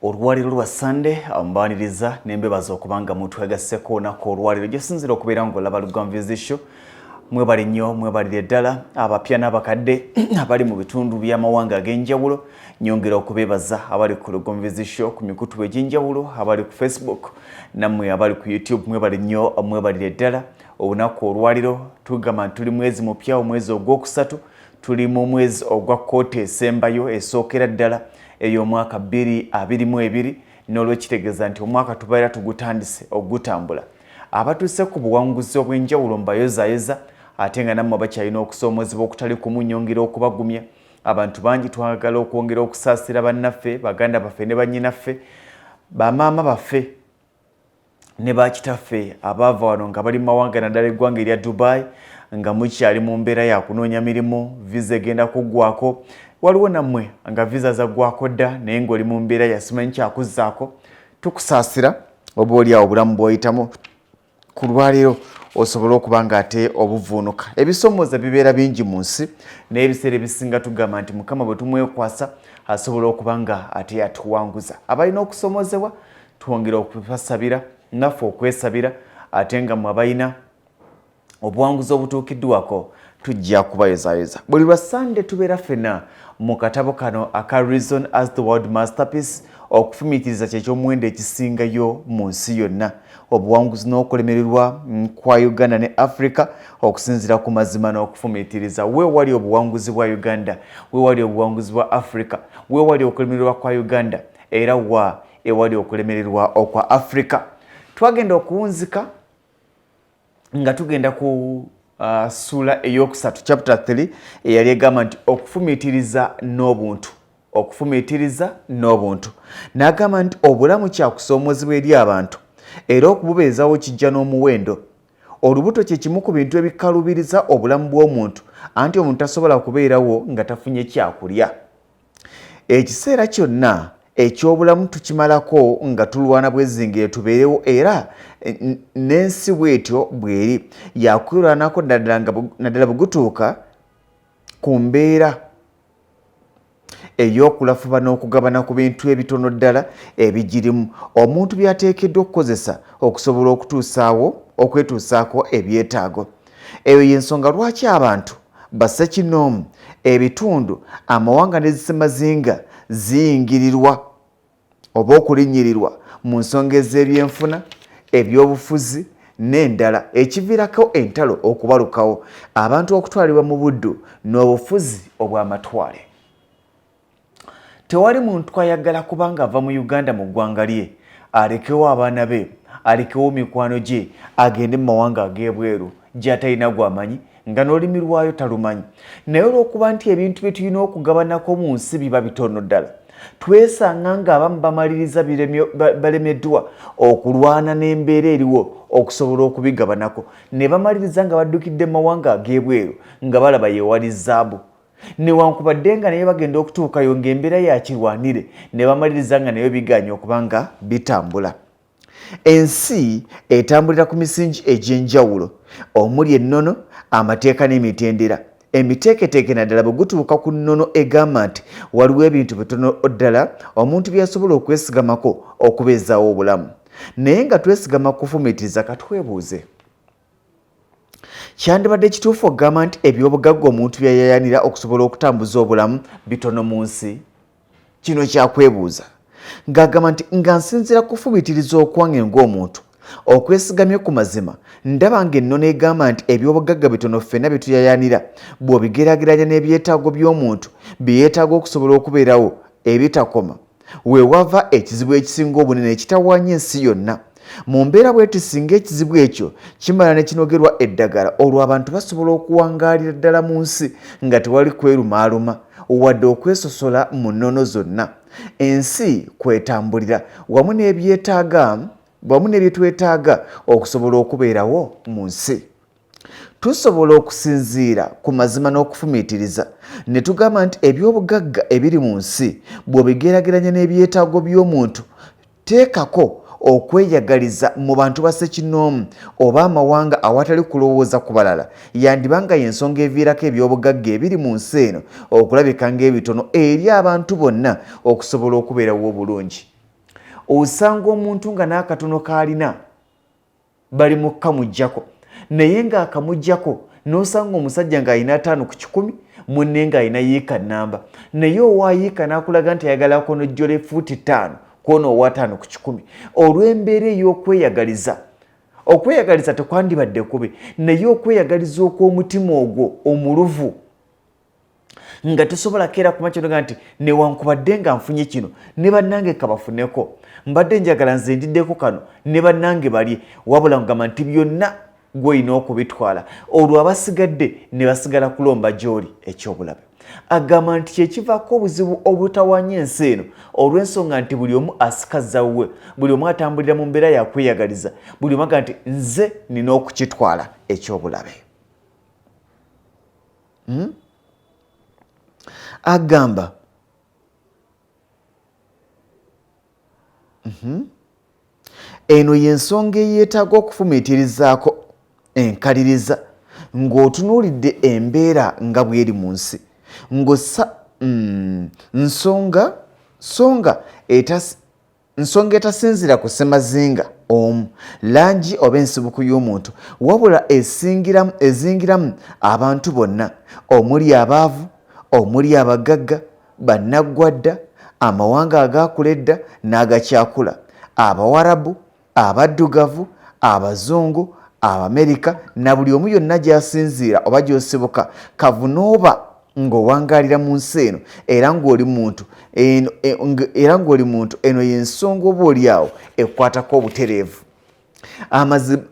olwaliro lwa sande ambaniriza nembebaza okubanga muntu yagasseko onaku olwaliro gyosinzira okubeera nga olaba lugamvizisho mwebali nnyo mwebalire ddala abapya n'abakadde abali mu bitundu by'amawanga ag'enjawulo nyongera okubeebaza abali ku lugonvizisho ku mikutu egy'enjawulo abali ku facebook nammwe abali ku youtube mwebali nnyo mwebalire ddala olunaku olwaliro tugamba nti tuli mwezi mupya omwezi ogwokusatu tuli mu mwezi ogwa kkooti esembayo esookera ddala ey'omwaka bbiri abiri mu ebiri n'olwekitegeeza nti omwaka tubeera tugutandise okugutambula abatuuse ku buwanguzi obw'enjawulo mbayozayoza ate nga nammwe bakyalina okusoomoozebwa okutali kumunyongera okubagumya abantu bangi twagala okwongera okusaasira bannaffe baganda baffe ne bannyinaffe bamaama baffe ne bakitaffe abaava wano nga bali mu mawanga naddala eggwanga erya Dubai nga mukyali mu mbeera ya kunoonya mirimu viza egenda kuggwako waliwo nammwe nga viza zaggwako dda naye ng'oli mu mbeera yasimanyi kyakuzzaako tukusaasira oba oli awo obulamu bw'oyitamu ku lwaleero osobole okuba nga ate obuvuunuka ebisoomooza bibeera bingi mu nsi naye ebiseera ebisinga tugamba nti mukama bwe tumwekwasa asobola okuba nga ate yatuwanguza abalina okusoomozebwa twongera okubasabira naffe okwesabira ate nga mwe abalina obuwanguzi obutuukiddwako tujja kubayozayoza buli lwa sande tubeera fena mu katabo kano aka reason as the world masterpiece okufumiitiriza kyekyomuwendo ekisingayo mu nsi yonna obuwanguzi n'okulemererwa kwa uganda ne africa okusinziira ku mazima n'okufumiitiriza wewali obuwanguzi bwa uganda wewali obuwanguzi bwa africa wewali okulemererwa kwa uganda era wa ewali okulemererwa okwa africa twagenda okuwunzika nga tugenda ku uh, sula eyokusatu chapter 3 eyali egamba nti okufumiitiriza n'obuntu okufumiitiriza n'obuntu n'agamba nti obulamu kyakusoomoozebwa eri abantu era okububeezawo kijja n'omuwendo olubuto kye kimu ku bintu ebikalubiriza obulamu bw'omuntu anti omuntu tasobola kubeerawo nga tafunye kyakulya ekiseera kyonna eky'obulamu tukimalako nga tulwana bwezingire tubeerewo era n'ensi bwetyo bweri yakwirwanako naddala bwegutuuka ku mbeera ey'okulafuba n'okugabana ku bintu ebitono ddala ebigirimu omuntu byateekeddwa okukozesa okusobola okutuusaawo okwetuusaako ebyetaago eyo y'ensonga lwaki abantu bassekinoomu ebitundu amawanga n'ezisemazinga ziyingirirwa oba okulinnyirirwa mu nsonga ez'ebyenfuna ebyobufuzi n'endala ekiviirako entalo okubalukawo abantu okutwalibwa mu buddu n'obufuzi obw'amatwale tewali muntu ayagala kubanga ava mu uganda mu ggwanga lye alekewo abaana be alekewo mikwano gye agende mu mawanga ag'ebweru gyatalina gwamanyi nga n'olulimi lwayo talumanyi naye olw'okuba nti ebintu bye tulina okugabanako mu nsi biba bitono ddala twesanga ng'abamu bamaliriza balemeddwa okulwana n'embeera eriwo okusobola okubigabanako ne bamaliriza nga baddukidde mu mawanga ag'ebweru nga balaba yewali zaabu newankubadde nga naye bagenda okutuukayo ng'embeera yakirwanire ne bamaliriza nga nayo biganye okuba nga bitambula ensi etambulira ku misingi egy'enjawulo omuli ennono amateeka n'emitendera emiteeketeeke naddala bwe gutuuka ku nnono egamba nti waliwo ebintu bitono ddala omuntu byasobola okwesigamako okubeezaawo obulamu naye nga twesigama kufumiitiriza katwebuuze kyandibadde kituufu okugamba nti ebyobugagga omuntu byeyayanira okusobola okutambuza obulamu bitono mu nsi kino kyakwebuuza ng'agamba nti nga nsinziira kufumitiriza okwange ng'omuntu okwesigamye ku mazima ndaba nga ennono egamba nti ebyobugagga bitono ffena byetuyayanira bw'obigeraageranya n'ebyetaago by'omuntu bye yeetaaga okusobola okubeerawo ebitakoma we wava ekizibu ekisinga obunene ekitawaanya ensi yonna mu mbeera bweti singa ekizibu ekyo kimala ne kinogerwa eddagala olwo abantu basobola okuwangaalira ddala mu nsi nga tewali kwerumaaluma wadde okwesosola mu nnono zonna ensi kwetambulira wamu n'ebyetaaga wamu n'ebyetwetaaga okusobola okubeerawo mu nsi tusobola okusinziira ku mazima n'okufumiitiriza ne tugamba nti eby'obugagga ebiri mu nsi bw'obigeraageranya n'ebyetaago by'omuntu teekako okweyagaliza mu bantu ba ssekinnoomu oba amawanga awatali kulowooza ku balala yandiba nga y'ensonga eviirako eby'obugagga ebiri mu nsi eno okulabika ng'ebitono eri abantu bonna okusobola okubeerawo obulungi osanga omuntu nga n'akatono k'alina bali mu kukamugyako naye ng'akamugyako n'osanga omusajja ng'alina ataano ku kikumi munne ng'alina yiika nnamba naye owa yiika n'akulaga nti ayagala akonojjola efuuti ttaano kwona owataano ku kikumi olw'embeera ey'okweyagaliza okweyagaliza tekwandibadde kubi naye okweyagaliza okw'omutima ogwo omuluvu nga tesobola keera kuma kinoga nti newankubadde nga nfunye kino ne bannange kabafuneko mbadde njagala nze ndiddeko kano ne bannange balye wabula kugamba nti byonna gwolina okubitwala olwo abasigadde ne basigala kulomba gy'oli ekyobulabe agamba nti kyekivaako obuzibu obutawanya ensi eno olw'ensonga nti buli omu asikaza wuwe buli omu atambulira mu mbeera yakweyagaliza buli omu aga nti nze nina okukitwala ekyobulabe hmm? agamba mhm. eno y'ensonga eyeetaaga okufumiitirizaako enkaliriza ng'otunuulidde embeera nga bweri mu nsi ngosa mm, nsonga songa etas nsonga etasinzira ku ssemazinga omu langi oba ensibuku y'omuntu wabula esingiramu ezingiramu abantu bonna omuli abaavu omuli abagagga bannaggwadda amawanga agaakula edda n'agakyakula abawarabu abaddugavu abazungu abamerika na buli omu yonna gy'asinziira oba gy'osibuka kavunooba ng'owangalira mu nsi eno era ng'oli muntu e, era ng'oli muntu eno y'ensonga oba oli awo ekwatako obutereevu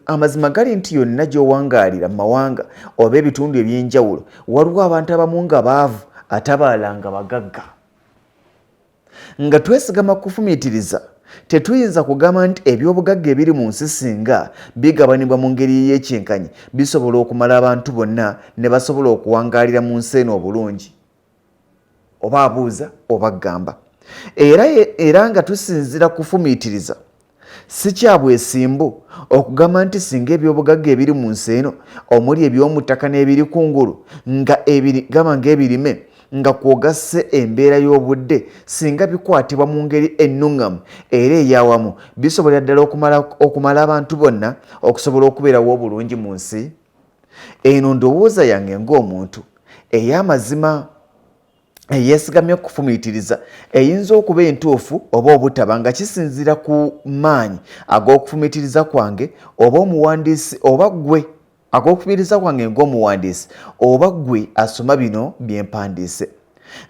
amazima gali nti yonna gy'owangaalira mu mawanga oba ebitundu eby'enjawulo waliwo abantu abamu nga baavu ate abalala nga bagagga Nga twesigama ku kufumiitiriza, tetuyinza kugamba nti eby'obugagga ebiri mu nsi singa bigabanibwa mu ngeri ey'ekyenkanyi bisobola okumala abantu bonna ne basobola okuwangaalira mu nsi eno obulungi. Oba abuuza oba agamba. Era, era nga tusinziira kufumiitiriza, Si kya bwesimbu okugamba nti singa ebyobugagga ebiri mu nsi eno omuli eby'omuttaka n'ebiri ku ngulu nga gaba ng'ebirime nga kwogasse embeera y'obudde singa bikwatibwa mu ngeri ennuŋŋamu era eyawamu bisobolera ddala okumala abantu bonna okusobola okubeerawo obulungi mu nsi eno ndowooza yange ng'omuntu ey'amazima eyeesigamye okufumiitiriza eyinza okuba entuufu oba obutaba nga kisinziira ku maanyi ag'okufumiitiriza kwange oba omuwandiisi oba ggwe ag'okufumiitiriza kwange ng'omuwandiisi oba ggwe asoma bino bye mpandiise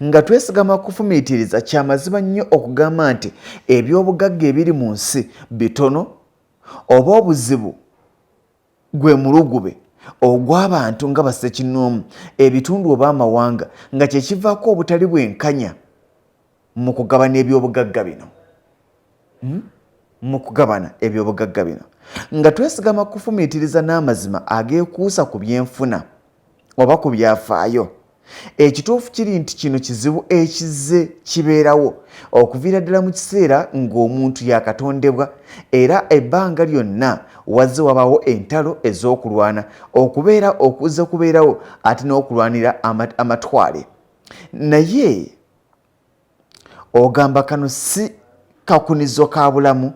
nga twesigama kufumiitiriza kya mazima nnyo okugamba nti eby'obugagga ebiri mu nsi bitono oba obuzibu gwe mulugube ogw'abantu nga bassekinnoomu, ebitundu oba amawanga nga kye kivaako obutali bwenkanya mu kugabana ebyobugagga bino hmm? mu kugabana ebyobugagga bino nga twesigama kufumiitiriza n'amazima ageekuusa ku byenfuna. oba ku byafaayo. Ekituufu kiri nti kino kizibu ekizze kibeerawo okuviira ddala mu kiseera ng'omuntu yaakatondebwa era ebbanga lyonna wazze wabaawo entalo ez'okulwana okubeera okuzze kubeerawo ate n'okulwanira amatwale naye ogamba kano si kakunizo ka bulamu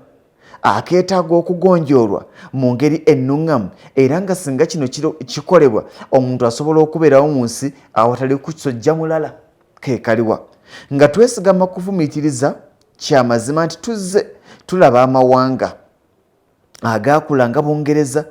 akeetaaga okugonjoolwa mu ngeri ennuŋŋamu era nga singa kino kikolebwa omuntu asobola okubeerawo mu nsi awatali kusojja mulala kekaliwa nga twesigama kufumiitiriza kya mazima nti tuzze tulaba amawanga agaakula nga Bungereza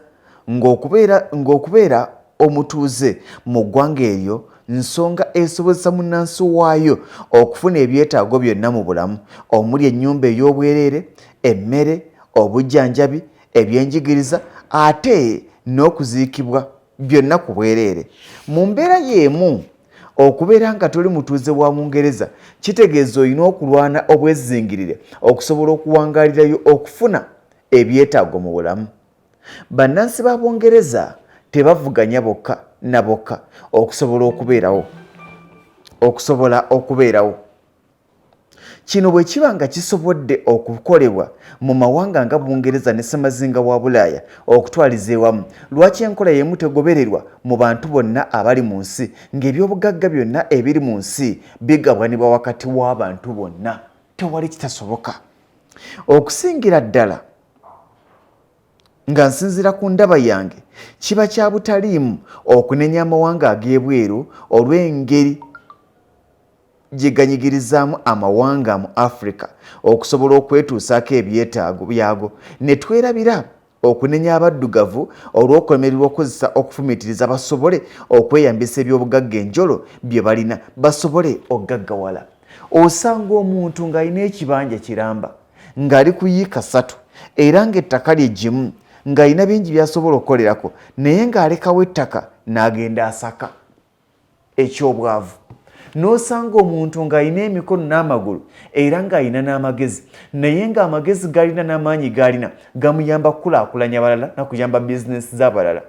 ng'okubeera ng'okubeera omutuuze mu ggwanga eryo nsonga esobozesa munnansi waayo okufuna ebyetaago byonna mu bulamu omuli ennyumba ey'obwereere, emmere, obujjanjabi, ebyenjigiriza ate n'okuziikibwa byonna ku bwereere mu mbeera y'emu okubeera nga toli mutuuze wa bungereza kitegeeza olina okulwana obwezingirire okusobola okuwangalirayo okufuna ebyetaago mu bulamu bannansi ba bungereza tebavuganya bokka na bokka okusobola okubeerawo okusobola okubeerawo Kino bwe kiba nga kisobodde okukolebwa mu mawanga nga Bungereza ne ssemazinga wa Bulaaya okutwaliza ewamu, lwaki enkola y'emu tegobererwa mu bantu bonna abali mu nsi ng'ebyobugagga byonna ebiri mu nsi bigabwanibwa wakati w'abantu bonna? Tewali kitasoboka. Okusingira ddala nga nsinziira ku ndaba yange, kiba kya butaliimu okunenya amawanga ag'ebweru olw'engeri gye ganyigirizaamu amawanga mu Afrika okusobola okwetuusaako ebyetaago byago ne twerabira okunenya abaddugavu olw'okulemererwa okukozesa okufumiitiriza basobole okweyambisa ebyobugagga enjolo bye balina basobole okugaggawala. Osanga omuntu ng'alina ekibanja kiramba ng'ali ku yiika ssatu era ng'ettaka lye gimu ng'alina bingi by'asobola okukolerako naye ng'alekawo ettaka n'agenda asaka. eky'obwavu n'osanga omuntu ng'alina emikono n'amagulu era ng'alina n'amagezi naye ng'amagezi galina n'amaanyi gaalina gamuyamba kukulaakulanya abalala na kuyamba bizinensi z'abalala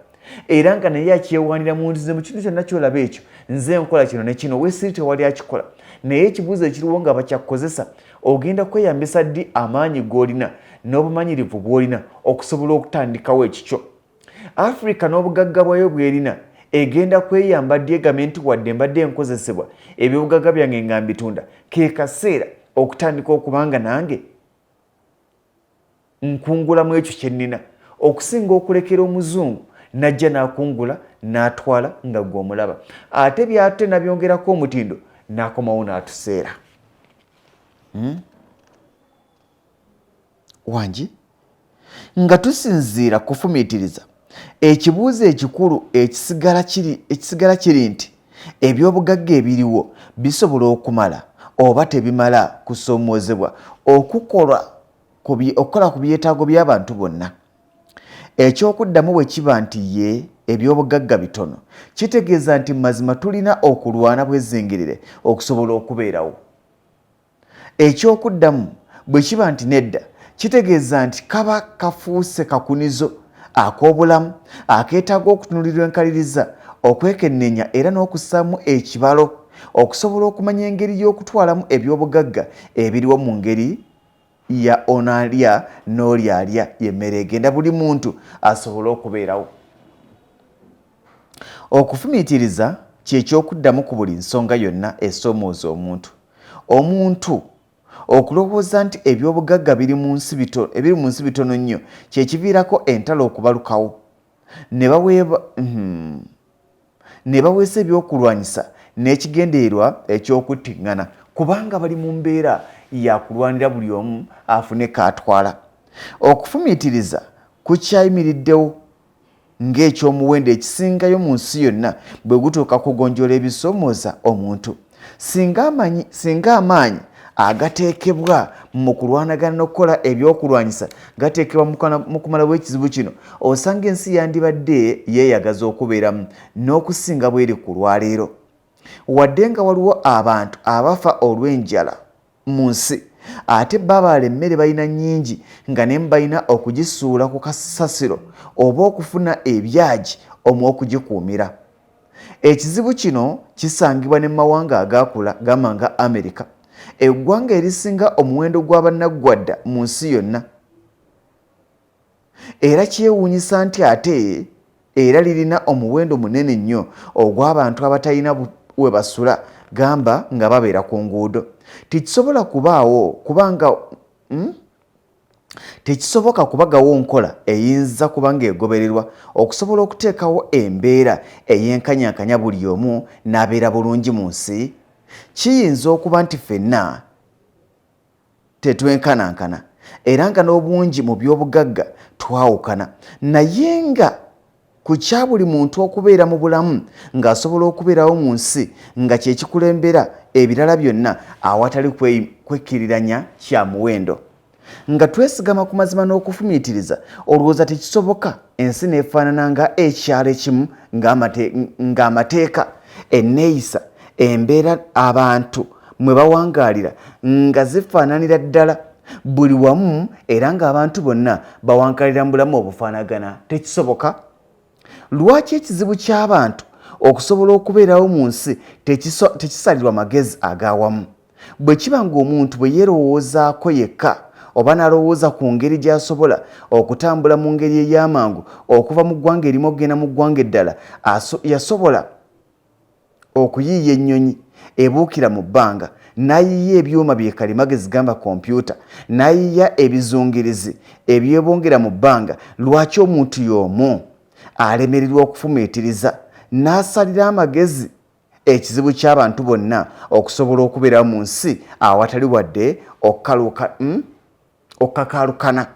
era nga naye akyewaanira mu nzize mu kintu kyonna kyolaba ekyo nze nkola kino ne kino wesiri tewali akikola naye ekibuuzo ekiriwo nga bakyakukozesa ogenda kweyambisa ddi amaanyi g'olina n'obumanyirivu bw'olina okusobola okutandikawo ekikyo africa n'obugagga bwayo bwerina egenda kweyamba ddi egambe nti wadde mbadde enkozesebwa ebyobugagga byange nga mbitunda ke kaseera okutandika okubanga nange nkungula mu ekyo kyennina okusinga okulekera omuzungu najja nakungula natwala nga gwe omulaba ate byate nabyongerako omutindo nakomawo natuseera hmm? wangi nga tusinziira kufumiitiriza ekibuuzo ekikulu ekisigala kiri nti ebyobugagga ebiriwo bisobola okumala oba tebimala kusoomoozebwa okukola ku byetaago by'abantu bonna? Eky'okuddamu bwe kiba nti yee ebyobugagga bitono kitegeeza nti mazima tulina okulwana bwezinngirire okusobola okubeerawo. Eky'okuddamu bwe kiba nti nedda, kitegeeza nti kaba kafuuse kakunizo ak'obulamu akeetaaga okutunuulirwa enkaliriza, okwekenneenya era n'okussaamu ekibalo okusobola okumanya engeri y'okutwalamu eby'obugagga ebiriwo mu ngeri ya ono alya n'oli alya y'emmere egenda buli muntu asobole okubeerawo. Okufumiitiriza kye ky'okuddamu ku buli nsonga yonna esoomooza omuntu. Omuntu okulowooza nti eby'obugagga biri mu nsi bito, ebiri mu nsi bitono nnyo kye kiviirako entalo okubalukawo ne baweeba hmm, ne baweesa ebyokulwanyisa n'ekigendererwa eky'okuttiŋŋana kubanga bali mu mbeera ya kulwanira buli omu afune k'atwala. Okufumiitiriza kukyayimiriddewo ng'eky'omuwendo ekisingayo mu nsi yonna bwe gutuuka kugonjoola ebisoomooza omuntu. Singa amaanyi agateekebwa mu kulwanagana n'okukola ebyokulwanyisa gateekebwa mu kumalawo ekizibu kino, osanga ensi yandibadde yeeyagaza okubeeramu n'okusinga bw'eri ku lwaleero. Wadde nga waliwo abantu abafa olw'enjala, mu nsi ate babaala emmere balina nnyingi nga nemu balina okugisuula ku kasasiro oba okufuna ebyagi omu okugikuumira ekizibu kino kisangibwa ne mu mawanga agaakula gamba nga amerika eggwanga erisinga omuwendo gw'abannaggwadda mu nsi yonna era kyewuunyisa nti ate era lirina omuwendo munene nnyo ogw'abantu abatalina we basula gamba nga babeera ku nguudo tekisobola kubaawo kubanga hmm? tekisoboka kubagawo nkola eyinza kuba ng'egobererwa okusobola okuteekawo embeera ey'enkanyankanya buli omu n'abeera bulungi mu nsi kiyinza okuba nti ffenna tetwenkanankana era nga n'obungi mu by'obugagga twawukana naye nga ku kya buli muntu okubeera mu bulamu ng'asobola okubeerawo mu nsi nga kye kikulembera ebirala byonna awatali kwekkiriranya kya muwendo nga twesigama ku mazima n'okufumiitiriza olwooza tekisoboka ensi n'efaanana nga ekyalo ekimu ng'amateeka enneeyisa embeera abantu mwe bawangaalira nga zifaananira ddala buli wamu era ng'abantu bonna bawankalira mu bulamu obufaanagana tekisoboka lwaki ekizibu ky'abantu okusobola okubeerawo mu nsi tekisalirwa magezi ag'awamu bwe kiba ng'omuntu bwe yeerowoozaako yekka oba n'alowooza ku ngeri gy'asobola okutambula mu ngeri ey'amangu okuva mu ggwanga erimu okugenda mu ggwanga eddala yasobola okuyiiya ennyonyi ebuukira mu bbanga, n'ayiiya ebyuma bye kalimagezi gamba kompyuta, n'ayiiya ebizungirizi ebyebongera mu bbanga, lwaki omuntu y'omu alemererwa okufumiitiriza n'asalira amagezi ekizibu ky'abantu bonna okusobola okubeerawo mu nsi awatali wadde okukaluuka? um Okukakaalukana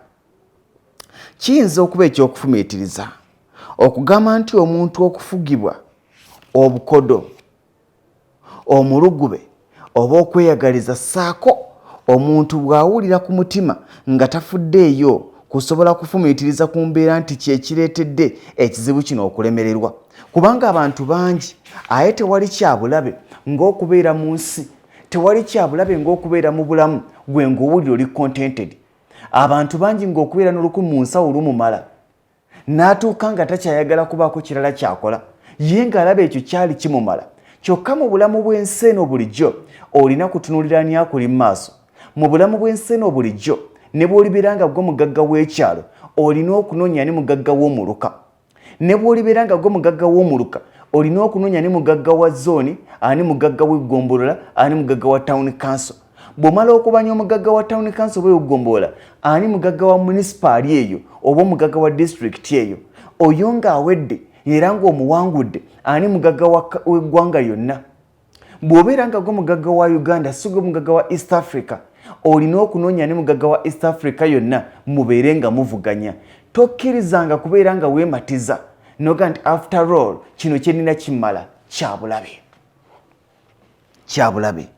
kiyinza okuba eky'okufumiitiriza okugamba nti omuntu okufugibwa obukodo omulugube oba okweyagaliza ssaako omuntu bw'awulira ku mutima nga tafuddeeyo kusobola kufumiitiriza ku mbeera nti kye kireetedde ekizibu kino okulemererwa kubanga abantu bangi aye tewali kyabulabe ng'okubeera mu nsi tewali kyabulabe ng'okubeera mu bulamu gwe ng'owulira oli contented abantu bangi ng'okubeera n'oluku mu nsawo lumumala n'atuuka nga takyayagala kubaako kirala kyakola ye ng'alaba ekyo kyali kimumala kyokka mu bulamu bw'ensi eno bulijjo olina kutunuulira ani akuli mu maaso mu bulamu bw'ensi eno bulijjo ne bw'olibeera nga gwo mugagga w'ekyalo olina okunoonya ani mugagga w'omuluka ne bw'olibeera nga gwe mugagga w'omuluka olina okunoonya ani mugagga wa zooni ani mugagga w'eggombolola ani mugagga wa tawuni kanso bw'omala okubanya omugagga wa tawuni kanso oba eweggombolola ani mugagga wa munisipaali eyo oba omugagga wa disitulikiti eyo oyo ng'awedde era ng'omuwangudde ani mugagga w'eggwanga yonna bw'obeera nga gwe mugagga wa uganda si gwe mugagga wa east africa olina okunoonya ne mugagga wa east africa yonna mubeere nga muvuganya tokkirizanga kubeera nga weematiza noga nti after all kino kyenina kimmala kyabulabe kyabulabe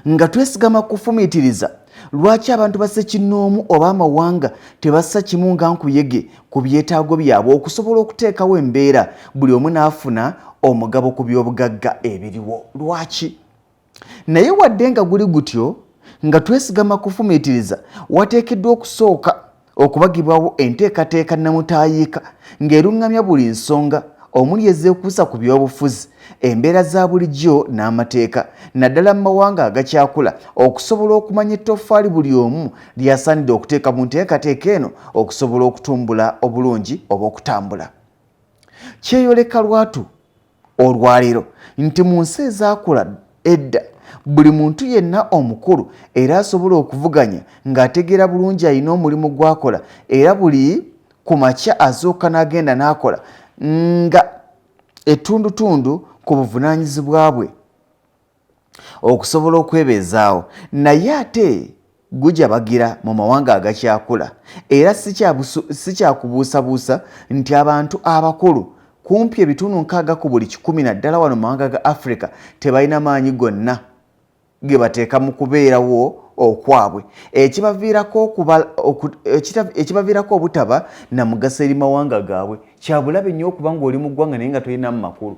Nga twesigama ku kufumiitiriza, lwaki abantu ba ssekinnoomu oba amawanga tebassa kimu nga nkuyege ku byetaago byabwe okusobola okuteekawo embeera buli omu n'afuna omugabo ku by'obugagga ebiriwo? Lwaki? Naye wadde nga guli gutyo, nga twesigama ku kufumiitiriza, wateekeddwa okusooka okubagibwawo enteekateeka nnamutaayiika ng'eruŋŋamya buli nsonga omuli ezeekuusa ku byobufuzi embeera za bulijjo n'amateeka naddala mu mawanga agakyakula okusobola okumanya ettoffaali buli omu lyasaanidde okuteeka mu nteekateeka eno okusobola okutumbula obulungi oba okutambula kyeyoleka lwatu olwaleero nti mu nsi ezaakula edda buli muntu yenna omukulu era asobola okuvuganya ng'ategeera bulungi alina omulimu gw'akola era buli ku makya azooka n'agenda n'akola nga ettundutundu ku buvunaanyizibwa bwe. okusobola okwebeezaawo naye ate gujabagira mu mawanga agakyakula era si kyakubuusabuusa nti abantu abakulu kumpi ebitundu nkaaga ku buli kikumi naddala wano mu mawanga ga africa tebalina maanyi gonna ge bateeka mu kubeerawo okwabwe ekibaviirako obutaba na mugaso eri mawanga gaabwe kyabulabe nnyo okuba ng'oli mu ggwanga naye nga tolinamu makulu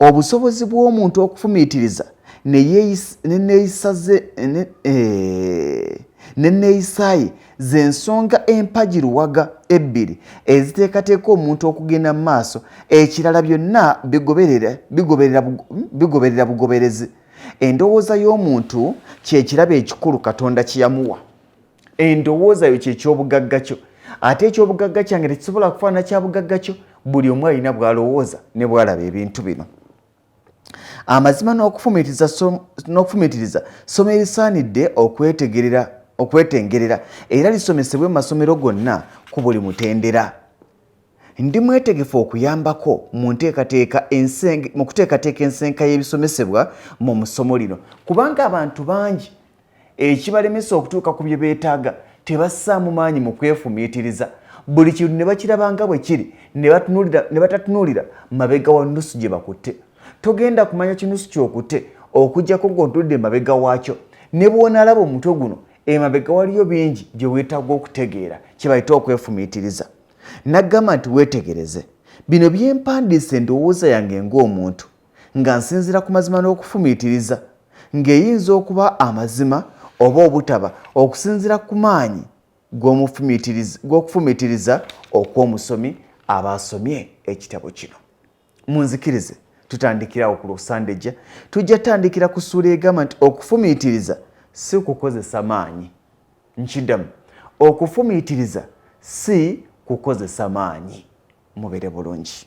obusobozi bw'omuntu okufumiitiriza neneeyisa eh, ye z'ensonga empagi luwaga ebbiri eziteekateeka omuntu okugenda mu maaso ekirala byonna bigoberera bugoberezi endowooza y'omuntu kyekirabo ekikulu katonda kyeyamuwa endowooza yo kyekyobugagga kyo ate ekyobugagga kyange tekisobola kufaana kyabugagga kyo buli omu alina bwalowooza ne bwalaba ebintu bino amazima n'okufumitiriza somo erisaanidde okwetengerera era lisomesebwe mu masomero gonna ku buli mutendera ndi mwetegefu okuyambako mu nteekateeka mu kuteekateeka ensenka y'ebisomesebwa mu musomo lino kubanga abantu bangi ekibalemesa okutuuka ku bye beetaaga tebassaamu maanyi mu kwefumiitiriza buli kintu ne bakiraba nga bwe kiri ne batatunuulira mabega wa nnusu gye bakutte togenda kumanya kinusu kyokutte okugyako ng'ontudde emabega waakyo ne bw'onaalaba omutwe guno emabega waliyo bingi bye weetaaga okutegeera kye bayita okwefumiitiriza naggamba nti weetegereze bino byempandiisa endowooza yange ng'omuntu nga nsinzira ku mazima n'okufumiitiriza ng'eyinza okuba amazima oba obutaba okusinzira ku maanyi g'okufumiitiriza okw'omusomi aba asomye ekitabo kino munzikirize tutandikirawo ku lwosandejja tujja tandikira ku ssuula egamba nti okufumiitiriza si kukozesa maanyi nkiddamu okufumiitiriza si kukozesa maanyi mubere bulungi